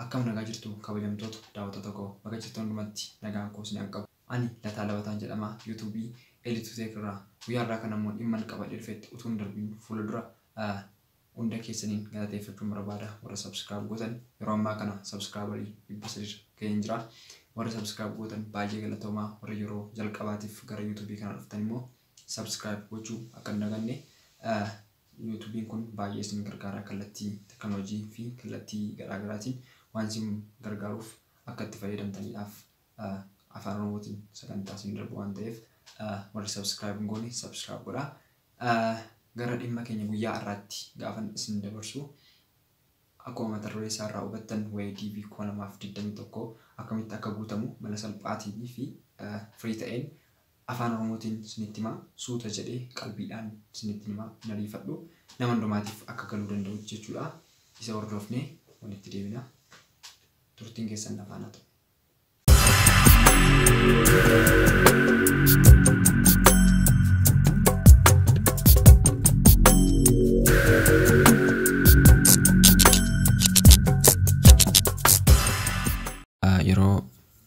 Akkam nagaa jirtuu kabajamtoota daawwattoota koo baga jirtan hundumatti nagaan koo isin dhaqqabu ani Lataa Labataan jedhama YouTube Elitu Tech irraa guyyaa har'aa kana immoo dhimman qabadhee dhufetti utuu hin darbiin fuula dura hunda keessaniin galateeffachuun barbaada warra subscribe gootan yeroo ammaa kana subscriberii dhibba sadii ga'een jira warra subscribe gootan baay'ee galatoomaa warra yeroo jalqabaatiif gara YouTube kana dhuftan immoo subscribe gochuu akka hin daganne Yuutubiin kun baay'ee isin gargaara kallattii teknolojii fi kallattii garaa garaatiin waan isin gargaaruuf akka itti fayyadamtaniidhaaf afaan oromootiin sagantaa isin darbu waan ta'eef warri subscribe hin goone subscribe godhaa. Gara dhimma keenya guyyaa har'aatti gaafan isin dabarsu akkuma mata duree isaa irraa hubattan waa'ee DV 2021 akkamitti akka guutamu mala salphaatiin fi firii ta'een Afaan Oromootiin isinitti hima. Suuta jedhee qalbiidhaan isinittin hima. Hin ariifadhu. Nama hundumaatiif akka galuu danda'utti jechuudha. Isa hordofnee walitti deebina. Turtiin keessan na faana ta'u. Yeroo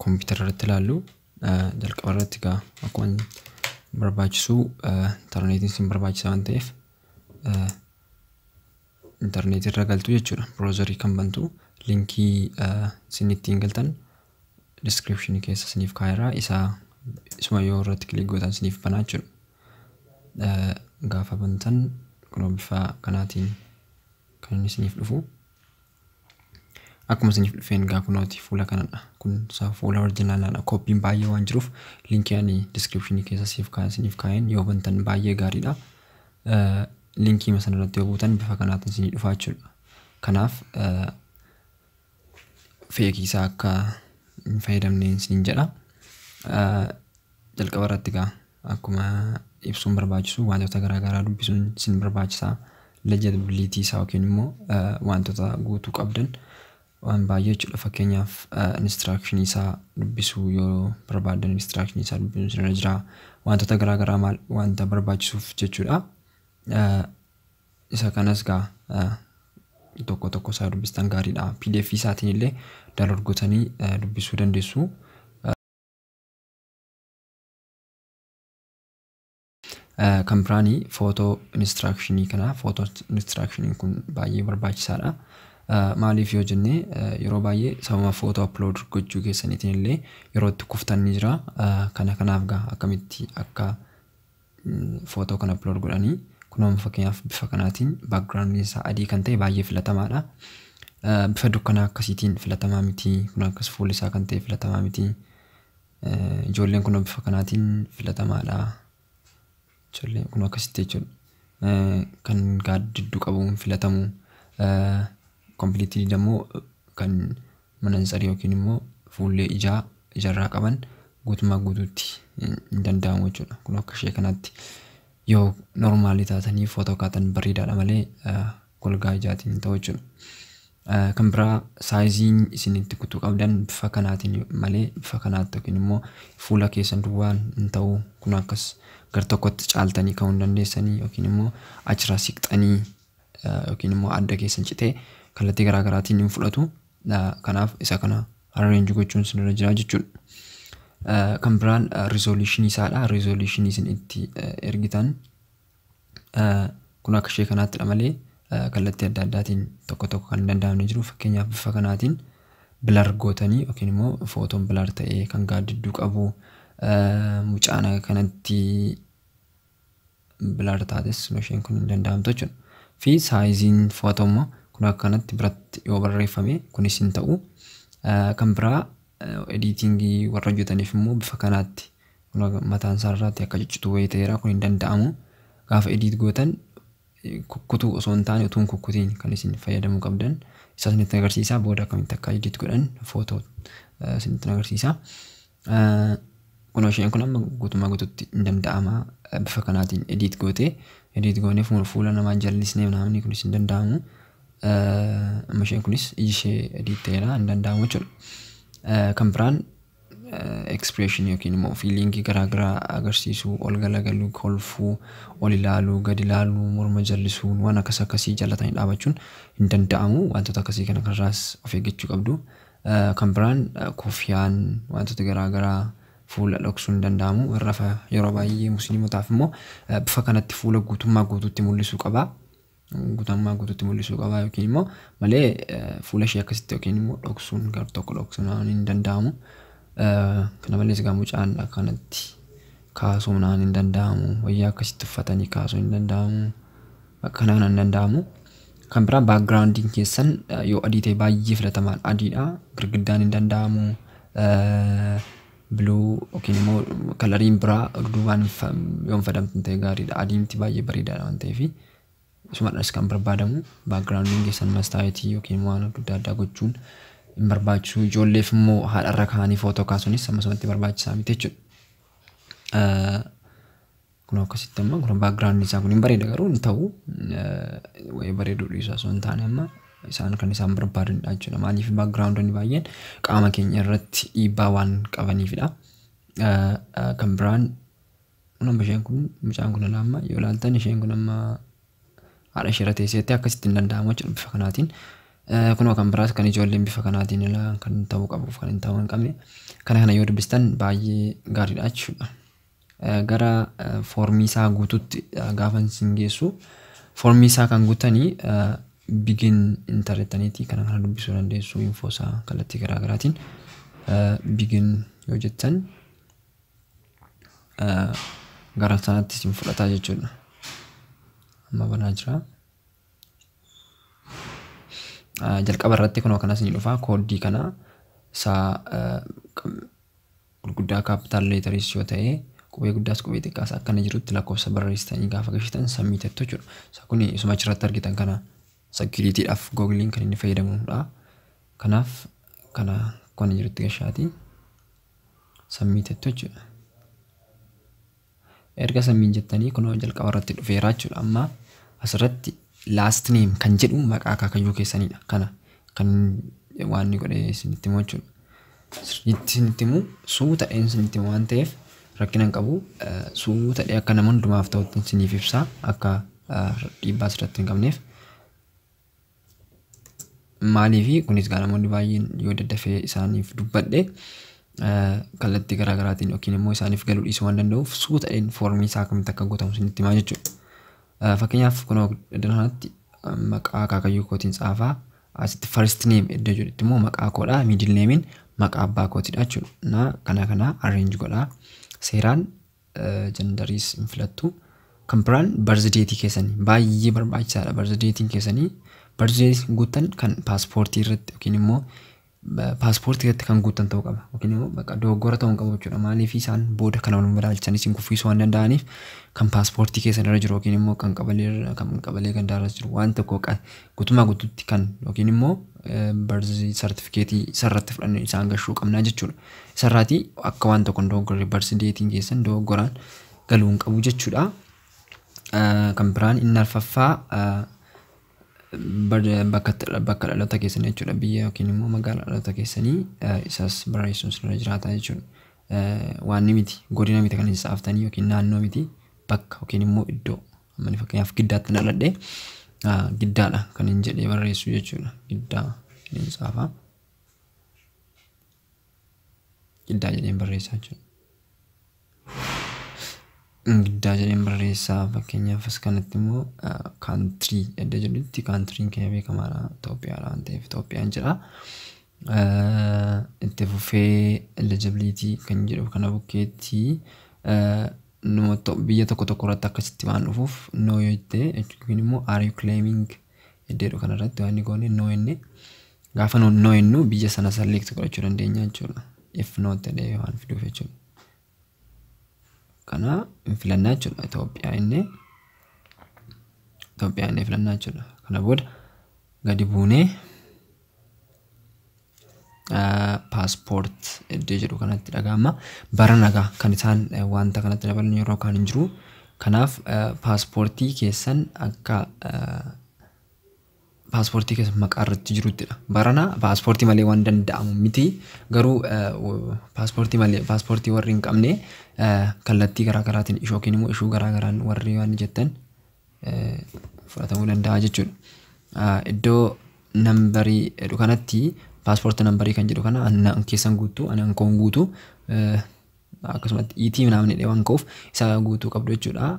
kompiitara irratti ilaallu Jalqaba irratti egaa akkuma barbaachisu intarneetiin isin barbaachisa waan ta'eef intarneetii irra galtu jechuudha. Biroozarii kan bantu linkii isin ittiin galtan diskiripshinii keessa isiniif kaa'eera isaa isuma yoo irratti kilik gootan isiniif banaa jechuudha. Gaafa bantan kunoo bifa kanaatiin kan inni isiniif dhufu. Akkuma isiniif dhufeen egaa kunooti fuula kanadha. Kun isaa fuula orjinaalaadha. Kooppiin baay'ee waan jiruuf linkii ani diskiripshinii keessa siif kaa'e isiniif kaa'een yoo bantan baay'ee gaariidha. Eh, Linkii masan irratti yoo buutan bifa kanaatiin isinii dhufaa jechuudha. Kanaaf eh, feekii isaa akka hin fayyadamne isiniin jedha. Eh, Jalqaba irratti egaa akkuma ibsuun barbaachisu waantota garaa garaa dubbisuun isin barbaachisa. Legibility isaa yookiin immoo waantota guutuu qabdan waan baay'ee jechuudha. Fakkeenyaaf instruction isaa dubbisuu yoo barbaaddan instruction isaa dubbisuun isin irra jira. Waantota garaa garaa maal waanta barbaachisuuf jechuudha. Isa kanas egaa tokko tokko isaa dubbistan gaariidha. PDF isaatiin illee download gootanii dubbisuu dandeessu. Kan biraan footoo inistiraakishinii kana. Footoo inistiraakishiniin kun baay'ee barbaachisaadha. Maaliif yoo jenne yeroo baay'ee sababa footoo aplood gochuu keessaniitiin illee yeroo itti kuftan ni jira. Kana kanaaf egaa akkamitti akka footoo kan upload godhanii kunoo amma fakkeenyaaf bifa kanaatiin background isaa adii kan ta'e baay'ee filatamaadha. Eh, Bifa dukkanaa akkasiitiin filatamaa miti kun akkas fuulli isaa kan ta'e filatamaa miti. Eh, Ijoolleen kunoo bifa kanaatiin filatamaadha. Ijoolleen kunoo akkasitti jechuudha. Eh, Kan gaaddidduu qabu hin filatamu. Eh, Completely immoo kan manantsari yookiin immoo fuullee ijaa ijarraa qaban guutummaa guutuutti hin hin danda'amu jechuudha. Kun akka ishee kanatti yoo normaali taatanii footoo kaatan bareedaadha malee eh, golgaa ijaatiin hin ta'u jechuudha. Eh, Kan biraa saayiziin isin itti kutuu qabdan bifa kanaatiin malee bifa kanaatti yookiin immoo fuula keessan duwwaan hin ta'u. Kun akkas gar tokkotti caaltanii ka'uu hin dandeessanii yookiin immoo achirraa siqxanii yookiin immoo adda keessan citee kallattii garaa garaatiin hin fudhatu. Kanaaf isa kana arrange gochuun isinirra jira jechuudha. Kan biraan resolution isaadha. Resolution isin itti ergitan kun akka ishee kanaattidha malee kallattii adda addaatiin tokko tokko kan hin danda'amne jiru. Fakkeenyaaf bifa kanaatiin bilar gootanii yookiin immoo footoon bilar ta'ee kan gaaddidduu qabu mucaan kanatti bilaar taates isheen kun hin danda'amtu jechuudha. Fi saayiziin fo'atu immoo kun akka kanatti biratti yoo barreeffame kunis hin ta'u. Kan biraa ediitingii warra hojjetaniif immoo bifa kanaatti mataan isaa irraatti akka ciccitu wayii ta'eera kun hin danda'amu. Gaafa ediit gootan kukkutuu osoo hin taane utuu hin kukkutiin kan isin fayyadamuu qabdan isaa isinitti agarsiisa booda akkamitti akka edit godhan footoo isinitti agarsiisa. Kunoo isheen kun amma guutummaa guututti hin danda'ama bifa kanaatiin edit gootee edit goonee fuula namaa jallisnee naamni kunis hin danda'amu. Amma isheen kunis iji ishee edit ta'eera hin danda'amu jechuudha. Kan biraan expression yookiin immoo fiiliingii garaa garaa agarsiisuu, ol galagaluu, kolfuu, ol ilaaluu, gad ilaaluu, morma jallisuu waan akkas akkasii jallatanii dhaabachuun hin danda'amu. Wantoota akkasii kana kanarraas of eeggachuu qabdu. Kan biraan kuffiyaan wantoota garaa garaa fuula dhoksuun hin danda'amu. Irrafa yeroo baay'ee musliimotaaf immoo bifa kanatti fuula guutummaa guutuutti mul'isuu qaba. guutammaa guututti mul'isuu qabaa yookiin immoo malee fuula ishee akkasitti yookiin immoo dhoksuun gar tokko dhoksuun hin danda'amu. Kana malees egaa mucaan akkanatti kaasuun hin danda'amu. Wayyaa akkasitti uffatanii kaasuun hin danda'amu. Kana kana hin danda'amu. Kan biraa baakgiraawundiin keessan yoo adii ta'e baay'ee filatamaadha adiidha. Girgiddaan hin danda'amu. Blue yookiin immoo kalariin biraa duubaan yoo hin fadamtin ta'e gaariidha. Adiimti baay'ee bareedaadha waan ta'eef isumadhas kan barbaadamu baakgiraawundiin keessan mastaayitii yookiin immoo waan adda addaa gochuun hin barbaachisu. Ijoolleef immoo haadharra kaanii footoo kaasuunis ammasumatti barbaachisaa miti jechuudha. Kun akkasitti amma kun background isaa kun hin bareeda garuu hin ta'u wayii bareeduu dhiisaa osoo hin taane amma isaan kan isaan barbaadanidha jechuudha. Maaliif backgroundonni baay'een qaama keenya irratti dhiibbaa waan qabaniifidha. Kan biraan kun amma isheen kun mucaan kun ilaa amma yoo ilaaltan isheen kun amma haadha ishee irra teesseetti akkasitti hin danda'amu jechuudha bifa kanaatiin. Kunoo kan biraas kan ijoolleen bifa kanaatiin ilaa kan ta'uu qabuuf kan hin ta'uu hin qabne kana kana yoo dubbistan baay'ee gaariidha jechuudha. Gara foormii isaa guututti gaafan isin geessu foormii isaa kan guutani bigin intar jettaniiti kana kana dubbisuu dandeessu infoo isaa kallattii garaa garaatiin bigin yoo jettan gara sanatti isin fudhataa jechuudha. Amma banaa jira. Jalqaba irratti kunoo kanas ni dhufa kooddii kana isaa gurguddaa capital letters yoo ta'e qubee guddaas qubee xiqqaas akkana jirutti lakkoofsa barreessitanii gaafa gashitan submit jettu jechuudha. Isa kun isuma achirratti argitan kana security dhaaf googiliin kan inni fayyadamudha. Kanaaf kana akkana jirutti gashaati submit jettu jechuudha. Erga sammiin jettanii kunoo jalqaba irratti dhufeera jechuudha. Amma asirratti last name kan jedhu maqaa akaakayyuu keessanidha. Kana kan waan inni godhe isinitti himu jechuudha. Sirriitti isinitti himu suuta dheen isinitti himu waan ta'eef rakkina hin qabu. Suuta dhee akka nama hundumaaf ta'utti isiniif ibsaa akka dhiibbaa asirratti hin qabneef. Maaliifi kunis egaa namoonni baay'een yoo daddafee isaaniif dubbadhe kallattii garaa garaatiin yookiin immoo isaaniif galuu dhiisuu waan danda'uuf suuta jedheen foormii isaa akkamitti akka guutamu isinitti himaa jechuudha. Fakkeenyaaf kunoo iddoo kanatti maqaa akaakayyuu kootiin tsaafaa asitti first name iddoo jedhutti immoo maqaa koodha middle name'n maqaa abbaa kootidha jechuudha. Naa kana kana arrange godhaa seeraan jandariis hin filattu. Kan biraan barzideetii keessanii baay'ee barbaachisaadha. Barzideetiin keessanii barzideetiin guuttan kan paaspoortii irratti yookiin immoo paaspoortii irratti kan guuttan ta'uu qaba. Yookiin immoo bakka dogoggora ta'uu hin qabu jechuudha. Maaliif isaan booda kana wal madaalchan isin kuffiisuu waan danda'aniif kan paaspoortii keessan irra jiru yookiin immoo kan qabalee irra kan qabalee gandaa irra jiru waan tokko kan guutummaa guutuutti kan yookiin immoo barzi sartifikeetii sarratti fudhanne isaan gashuu qabnaa jechuudha. Isarraati akka waan tokko hin dogoggorre barsi deetiin keessan dogoggoraan galuu hin qabu jechuudha. Ah, Kan biraan inni arfaffaa ah, bar- bakka itti- bakka dhaloota keessanii jechuudha biyya yookiin immoo magaalaa dhaloota keessanii ah, isas barreessuun sirra jiraata jechuudha. Eh, Waan ni miti godina miti kan isa aftanii yookiin naannoo miti bakka yookiin immoo iddoo ammani fakkeenyaaf giddaatti hin dhaladhe ah, giddaadha kan hin jedhee barreessu jechuudha giddaa hin saafa. Giddaa jedheen barreessaa jechuudha. Giddaa jedheen barreessaa fakkeenyaaf as kanatti immoo kaantirii edda jedhutti kaantiriin keenya beekamaadha Itoophiyaadha waan ta'eef Itoophiyaan jedha. Itti fufee eligibility kan jedhu kana bukkeetti biyya tokko tokko irratti akkasitti waan dhufuuf no yoo jette yookiin immoo are you claiming iddoo jedhu kanarratti waan inni goone no inni gaafa nu no innu biyya sana select godhachuu dandeenya jechuudha. If not ta'ee waan fiduuf jechuudha. Kana hin filannaa jechuudha. Itoophiyaa inni Itoophiyaa inni filannaa jechuudha. Kana booda gadi buunee Paaspoort iddoo jedhu kanatti dhaga'ama. Bara nagaa kan isaan wanta kanatti dabalan yeroo kaan hin jiru. Kanaaf paaspoortii keessan akka paaspoortii keessan maqaa irratti jiruttidha. Barana paaspoortii malee waan danda'amu miti. Garuu paaspoortii malee paaspoortii warri hin qabne kallattii garaa garaatiin ishoo yookiin immoo ishuu garaa garaan warri waan jettan fudhatamuu danda'a jechuudha. Iddoo nambarii jedhu kanatti paaspoortii nambarii kan jedhu kana ani naan keessan guutuu ani ankoon guutuu akkasumatti iitii naamni dheewan koof isa guutuu qabdu jechuudha.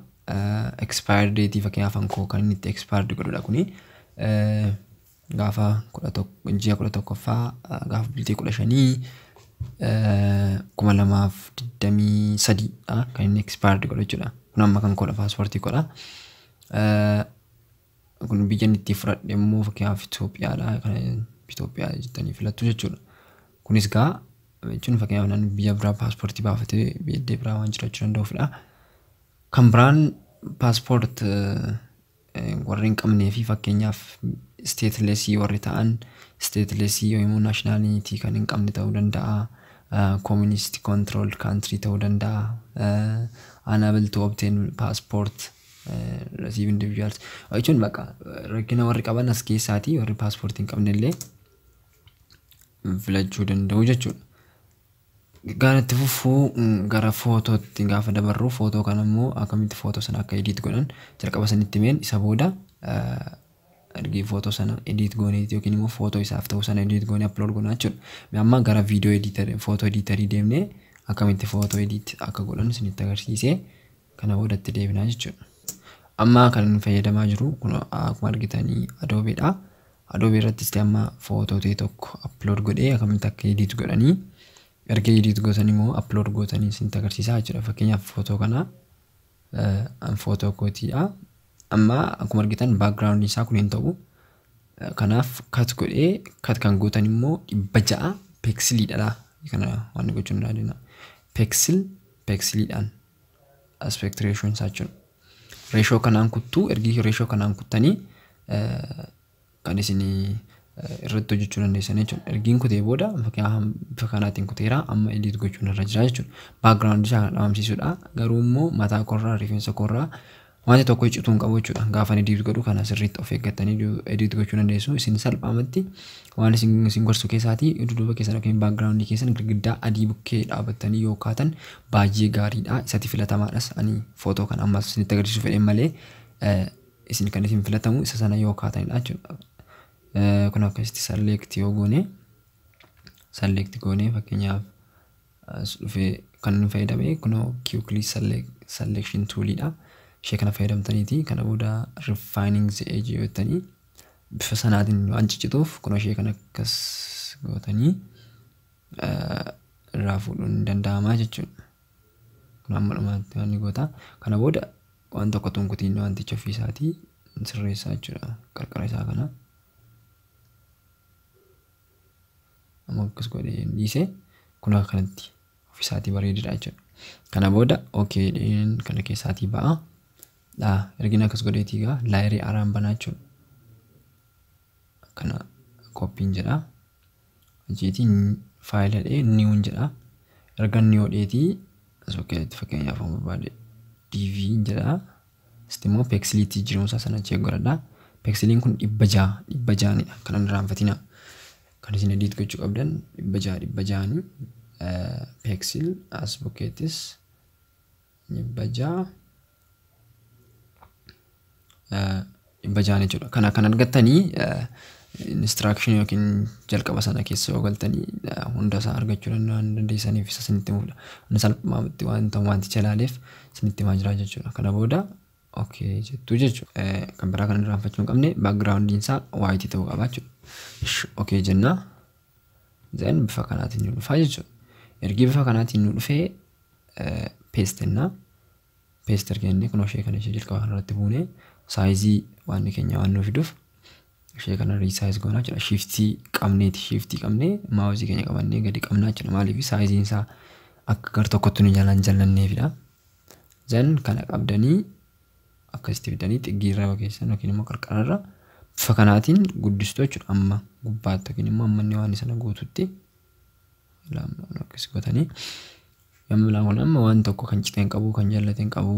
Expire date fakkeenyaaf ankoo kan inni itti expire godhudha kuni. gaafa 11 ji'a 11ffaa gaafa bultii 15 2023 dha kan inni expired godhu jechuudha. Kun amma kan koodha paaspoortii koodha. Kun biyya inni itti fudhadhe immoo fakkeenyaaf Itoophiyaadha. Kan Itoophiyaa jettanii filattu jechuudha. Kunis gaa jechuun fakkeenyaaf namni biyya biraa paaspoortii baafatee biyya biraa waan jiraachuu danda'uufidha. Kan biraan paaspoort warri hin qabnee fi fakkeenyaaf isteetilesii warri ta'an isteetilesii yoo immoo naashinaaliitii kan hin qabne ta'uu danda'a. Kooministi koontirooldi kaantirii ta'uu danda'a. Anabil tu obteen paaspoort rasiiv individuals. Jechuun baqa rakkina warri qaban as keessaatii warri paaspoortii hin qabne illee filachuu danda'u jechuudha. Gaara itti fufuu gara footootti gaafa dabarru footoo kana immoo akkamitti footoo sana akka ediit godhan jalqaba sanitti meen isa booda ergi footoo sana ediit goonee yookiin immoo footoo isaaf ta'u sana ediit goonee upload goona jechuudha. Mee amma gara viidiyoo ediitarii footoo ediitarii deemnee akkamitti footoo ediit akka godhan isinitti agarsiisee kana booda itti deebinaa jechuudha. Amma kan inni fayyadamaa jiru kun akkuma argitanii Adobe dha. Adobe irrattis amma footoo ta'e tokko upload godhee akkamitti akka edit godhanii erga edit gootan immoo upload gootanii isinitti agarsiisaa jechuudha. Fakkeenyaaf footoo kana an footoo kootiidha. Amma akkuma argitan background isaa kun hin ta'u. Kanaaf cut godhee cut kan gootan immoo dhibba ja'a peksiliidha. Kana waan gochuu hin dandeenyu. Peksil peksiliidhaan aspect ratio isaa jechuun ratio kanaan kuttuu ergi ratio kanaan kuttanii kan isin irratti hojjechuu dandeessan jechuudha. Ergiin kutee booda bifa kanaatiin kuteera amma edit gochuun irra jira jechuudha. Background isaa kan dhabamsiisudha garuu immoo mataa korraa rifeensa korraa Wanti tokko iccituu hin qabu jechuudha. Gaafan edit godhu kana sirriitti of eeggattanii du- edit gochuu dandeessu. Isin salphaamatti waan isin isin gorsu keessaatii dudduuba keessan yookiin background keessan girgiddaa adii bukkee dhaabattanii yoo kaatan baay'ee gaariidha. Isatti filatamaadhas ani footoo kan ammas isinitti agarsiisuu fedheen malee eh, isin kan isin filatamu isa sana yoo kaatanidha jechuudha. Eh, Kun akkasitti select yoo goone select goone fakkeenyaaf As dhufee kan nu fayyadamee kunoo Q-Click Selection Tool dha. Ishee kana fayyadamtaniiti kana booda Refining the Edge yoo jettanii bifa sanaatiin waan ciccituuf kunoo ishee kana akkas gootanii irraa fuudhuun ni danda'ama jechuudha. Kun amma dhumaatti waan ni goota. Kana booda waan tokko tunkutiin wanticha ofii isaatii sirreessaa jechuudha qarqara isaa kana. Amma akkas godhee hin dhiisee kun akkanatti ofisaatii bareedidha jechuudha. Kana booda OK jedheen kana keessaatii ba'a. Dhaa ergin akkas godheetii egaa laayerii haaraan banaa jechuudha. Kana koppiin jedha. Achiitii faayila dhee niwun jedha. Erga niwoo dheetii as fakkeenyaaf fakkeenyaaf barbaade DV jedha. Asitti immoo peeksilii itti jijjiiramu isaa sana check godhadha. Peeksiliin kun dhibba ja'a dhibba ja'anidha kan hin irraanfatina. Kan isin edit gochuu qabdan dhibba ja'a dhibba ja'ani peeksil as bukkeettis dhibba ja'a dhibba ja'a jechuudha. Kana kan argattanii instruction yookiin jalqaba sana keessa yoo galtanii hunda isaa argachuu danda'an dandeessaniif isa isinitti himudha. Inni salphaatti wanta wanticha ilaaleef isinitti himaa jira jechuudha. Kana booda okay jettu jechuudha. Kan biraa kan irraanfachuu hin qabne backgroundiin isaa white ta'uu qaba jechuudha. Ishi okay jenna. Then bifa kanaatiin nu dhufa jechuudha. Ergi bifa kanaatiin nu dhufee paste jennaa. Paste erga jennee kunoo ishee kana ishee jalqaba kanarratti buune saayizii waan keenya waan nuu fiduuf ishee kana resize goonaa jechuudha. Shiftii qabneeti shiftii qabnee maawusii keenya qabannee gadi qabnaa jechuudha. Maaliif saayiziin isaa akka gar tokkotti nu jalaan jallanneefidha. Zan kana qabdanii akkasitti fidanii xiggiirra yoo keessan yookiin immoo qarqararra bifa kanaatiin guddistu jechuudha. Amma gubbaatti yookiin immoo amma inni waan sana guututti laamma yookiis godhanii Kan biraa kun amma waan tokko kan cite hin qabu, kan jallate hin qabu,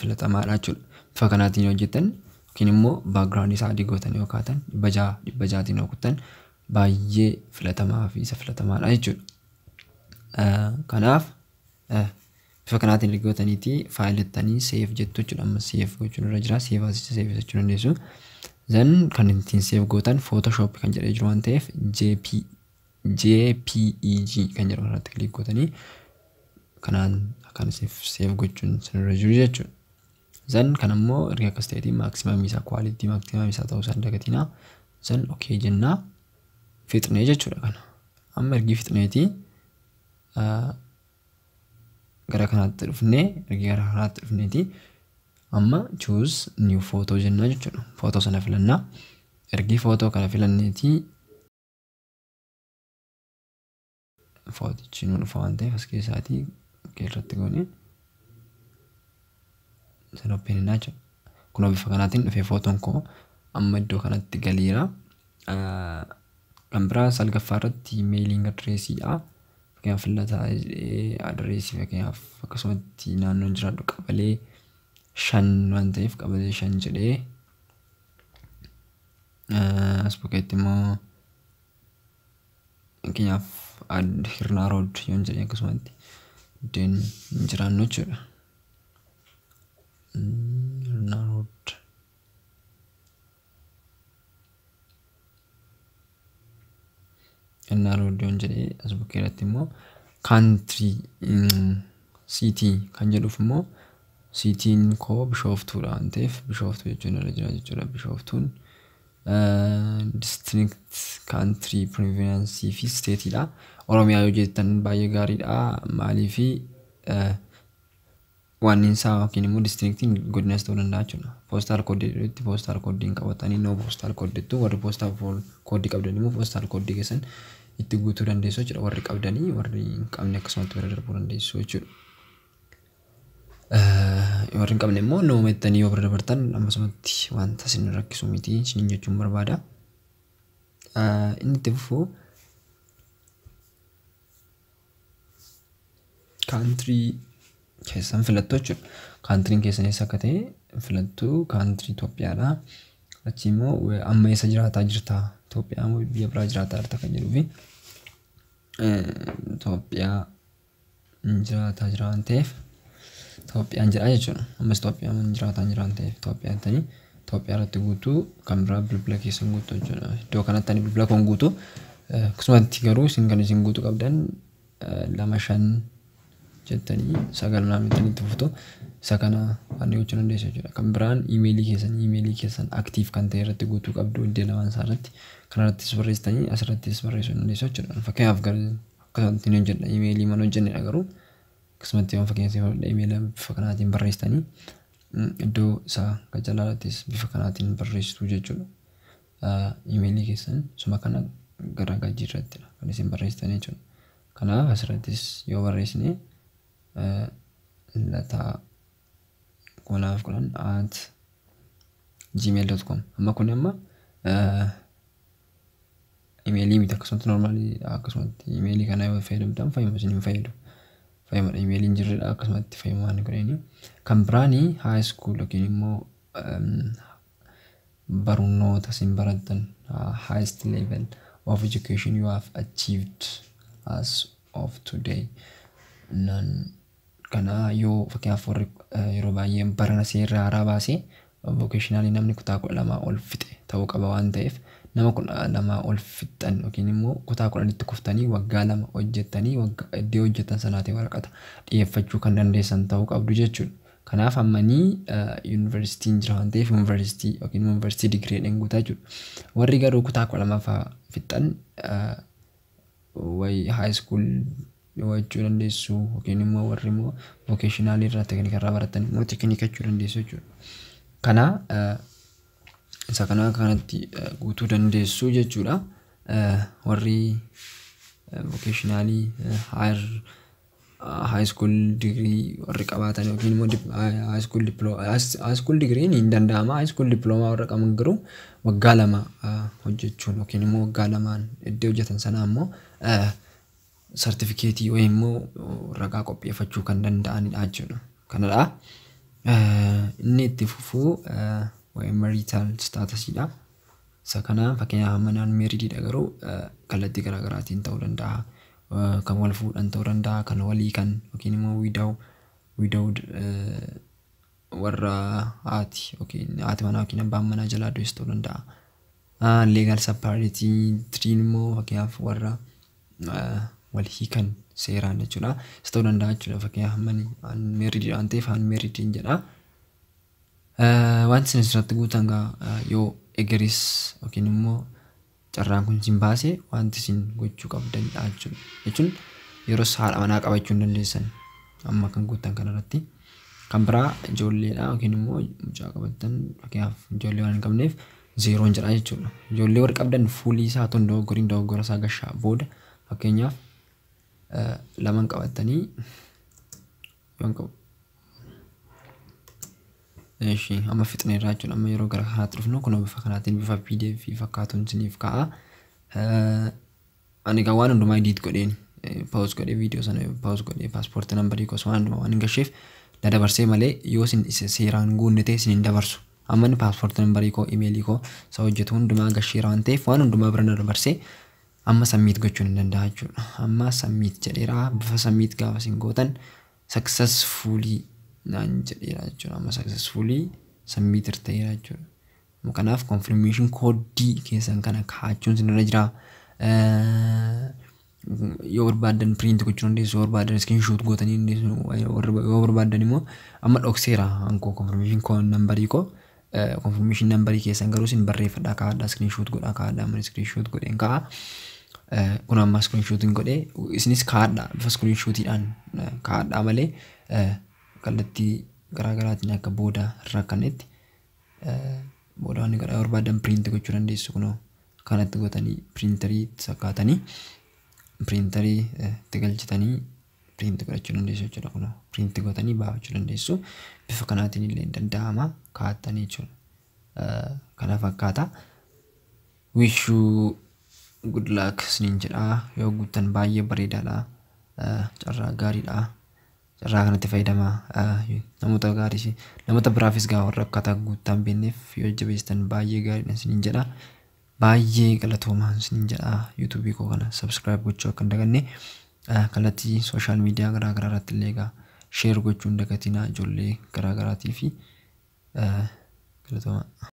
filatamaadha jechuudha. Bifa kanaatiin yoo hojjettan yookiin immoo background isaa adii gootanii yoo kaatan dhibba ja'a dhibba ja'atiin yoo kuttan baay'ee filatamaa fi isa filatamaadha jechuudha. Kanaaf bifa kanaatiin erga gootaniitii faayilii jettanii seef jettu jechuudha. Amma seef gochuun irra jira. Seef asicha seef jechuu dandeessu. Zan kan ittiin seef gootan Photoshop kan jedhee jiru waan ta'eef JP jpeg kan jedhamu irratti click gootanii kanaan akkaan isiniif save gochuun isinirra jiru jechuudha. Zan kan ammoo erga akkas ta'eeti maximum isaa quality maximum isaa ta'uu isaan dagatinaa. Zan okay jennaa fixnee jechuudha kana. Amma ergi fixneeti gara kanaatti dhufnee ergi gara kanaatti dhufneeti amma choose new photo jennaa jechuudha. Footoo sana filannaa. Ergi footoo kana filanneeti footichi nu dhufa waan ta'eef as keessaatii okkee irratti goone san oppeen hin naacha kunoo bifa kanaatiin dhufee footoon koo amma iddoo kanatti galeera kan biraa salgaffaa irratti meeliing adireesiidha fakkeenyaaf fillataa adireesii fakkeenyaaf akkasumatti naannoon jiraadhu qabalee shan waan ta'eef qabalee shan jedhee As bukkeetti immoo fakkeenyaaf add hirnaa rood yoon jedhe akkasumatti iddeen hin jiraannu jechuudha. Hirnaa rood. Innaa rooddoon jedhee as bukkee irratti immoo country mm, city kan jedhuuf immoo siitiin koo bishooftuudha waan ta'eef bishooftuu jechuun irra jira jechuudha bishooftuun eh, district country province fi state dha oromiyaa yoo jettan baay'ee gaariidha maaliifi eh, waanniinsaa yookiin immoo distriiktiin godinas ta'uu danda'a jechuudha. Poostaal kooddii jedhutti poostaal kooddii hin qabatanii noo poostaal kooddii jettu warri poostaal kooddii qabdan immoo poostaal kooddii keessan itti guutuu dandeessu jechuudha. Warri qabdanii warri hin qabne akkasumatti bira darbuu dandeessu jechuudha. Warri hin qabne immoo noo jettanii yoo bira dabartan ammasumatti wanta isin rakkisu miti isiniin jechuun barbaada. Inni itti fufu Kaantirii keessan filattu jechuudha. Kaantiriin keessan eessa akka ta'e filattu kaantirii Itoophiyaadha. Achi immoo we- amma eessa jiraataa jirta? Itoophiyaa moo biyya biraa jiraataa jirta kan jedhuu fi Itoophiyaa hin jiraataa jira waan ta'eef Itoophiyaan jedha jechuudha. Ammas Itoophiyaa hin jiraataa jira waan ta'eef Itoophiyaa jettanii Itoophiyaa irratti guutuu kan biraa bilbila keessan guutu hojjena. Iddoo kanatti ani bilbila koon guutu akkasumatti garuu isin kan isin guutu qabdan lama shan jettanii sagal naan jettanii itti fuftu isa kana ani gochuu dandeessu jechuudha. Kan biraan imeelii keessan imeelii keessan aktiif kan ta'e irratti guutuu qabdu iddoo lamaan isaa irratti kan irrattis barreessitanii as irrattis barreessuu dandeessu jechuudha. Fakkeenyaaf garuu akkasumatti hin hojjedha imeelii mana hojjennedha garuu akkasumatti waan fakkeenyaaf imeelii bifa kanaatiin barreessitanii Iddoo isaa kan jalaa irrattis bifa kanaatiin barreessitu jechuudha. Imeelii keessan suma kana gara gajjii irrattidha kan isin barreessitan jechuudha. Kanaaf asirrattis yoo barreessine lataa kunaaf kudhan at gmail.com amma kun amma imeelii miti akkasumatti normaalii akkasumatti imeelii kana yoo fayyadamtan fayyuma isin hin fayyadu fayyumadha imeeliin jirredha akkasumatti fayyumaa inni godheeni kan biraani high school yookiin immoo em, barnoota isin barattan uh, highest level of education you have achieved as of today naan Kana yoo fakkeenyaaf warri yeroo baay'ee barana seerri haaraa baase vocationally namni kutaa 12 ol fixe ta'uu qaba waan ta'eef nama 12 ol fixxan yookiin immoo kutaa 10tti kuftanii waggaa lama hojjettanii waggaa iddoo hojjettan sanaati waraqata dhiyeeffachuu kan dandeessan ta'uu qabdu jechuudha. Kanaaf ammanii yuunivarsiitiin jira waan ta'eef yuunivarsiitii yookiin yuunivarsiitii digirii dhenguutaa jechuudha. Warri garuu kutaa 12ffaa fixxan wayi high school wachuu dandeessu yookiin immoo warri immoo vocational irraa teknika irraa baratan immoo teknika jechuu dandeessu jechuudha. Kana eh, isa kana akka kanatti eh, guutuu dandeessu jechuudha. Eh, Warri eh, vocationalii eh, higher high school degree warri qabaatan yookiin immoo dip- ah, high school diploma high school degree ni danda'ama high school diploma warra qaban garuu waggaa lama ah, hojjechuun yookiin immoo waggaa lamaan iddoo hojjetan sanaa immoo ah, sartifikeetii yookiin immoo ragaa qopheeffachuu kan danda'anidha jechuudha kanadha Ah, inni itti fufuu ah, waa'ee marital statusdha Isa kanaan fakkeenyaaf amma naan meeridiidha garuu kallattii garaa garaatiin ta'uu danda'a. Kan wal fuudhan ta'uu danda'a, kan wal hiikan yookiin immoo widaw widowed warra haati yookiin haati manaa yookiin abbaan manaa jalaa du'es ta'uu danda'a. Leegaal sappaaritii tiriin immoo fakkeenyaaf warra wal hiikan seeraan jechuudha. Isa ta'uu danda'a jechuudha fakkeenyaaf amma ani meeridiidha waan ta'eef an meeridiin jedha. Wanti isin asirratti guutan gaa yoo egeris yookiin immoo carraan kun isin baase wanti isin gochuu qabdan jechuun jechuun yeros haadha manaa qabachuu hin dandeessan amma kan guutan kanarratti kan biraa ijoolleedha yookiin immoo mucaa qabattan fakkeenyaaf ijoollee waan hin qabneef zeeroon jedha jechuudha. Ijoollee warri qabdan fuulii isaa tun dogoggoriin dogoggora isaa gashaa booda fakkeenyaaf laman qabattanii Yoon qabu. Eshi amma fixne irraa jechuudha amma yeroo gara kanaatti dhufnu kun bifa kanaatiin bifa pdf fakkaatuun isiniif ka'a. Ani kan waan hundumaa edit godheen paawus godhee viidiyoo sana paawus godhee paaspoortii nambarii kos waan hundumaa waan hin gasheef na dabarsee malee yoo isin seeraan guunne ta'e isin hin dabarsu. Amma inni paaspoortii nambarii koo imeelii koo isa hojjetu hundumaa gasheera waan ta'eef waan hundumaa bira na dabarsee Amma submit gochuun hin danda'a jechuudha. Amma submit jedheera bifa submit gaafa isin gootan successfully naan jedheera jechuudha. Amma successfully submit ta'eera jechuudha. Amma kanaaf confirmation code keessan kana kaa'achuun isinirra jira. Yoo barbaadan print gochuu dandeessu, yoo barbaadan screenshot gootanii dandeessu, yoo barbaadan immoo amma dhokseera ankoo confirmation code nambarii koo Confirmation number keessan garuu isin barreeffadhaa kaa'adhaa screenshot godhaa kaa'adhaa amma screenshot godheen kaa'a. Kun amma screenshot hin godhee isinis kaa'adhaa bifa screenshotiidhaan kaa'adhaa malee kallattii garaagaraatiin akka booda rakkannetti booda wanni godhaa barbaadan print gochuu dandeessu kunoo kanatti gootanii printerii sakkaatanii printerii itti galchitanii print godhachuu dandeessu jechuudha kun print gootanii baafachuu dandeessu bifa kanaatiin illee hin danda'ama kaa'attanii jechuudha kana fakkaata wishuu good luck isiniin jedha yoo guuttan baay'ee bareedaadha carraa gaariidha carraa kanatti fayyadama namoota gaariis namoota biraafis gaa warra akkaataa guuttaan beekneef yoo jabeessitan baay'ee gaariidha isiniin jedha Baay'ee galatoomaa isiniin jedha YouTube koo kana subscribe gochuu akka hin daganne kallattii social media garaa garaa irratti illee egaa share gochuu hin dagatinaa ijoollee garaa garaatii fi galatoomaa.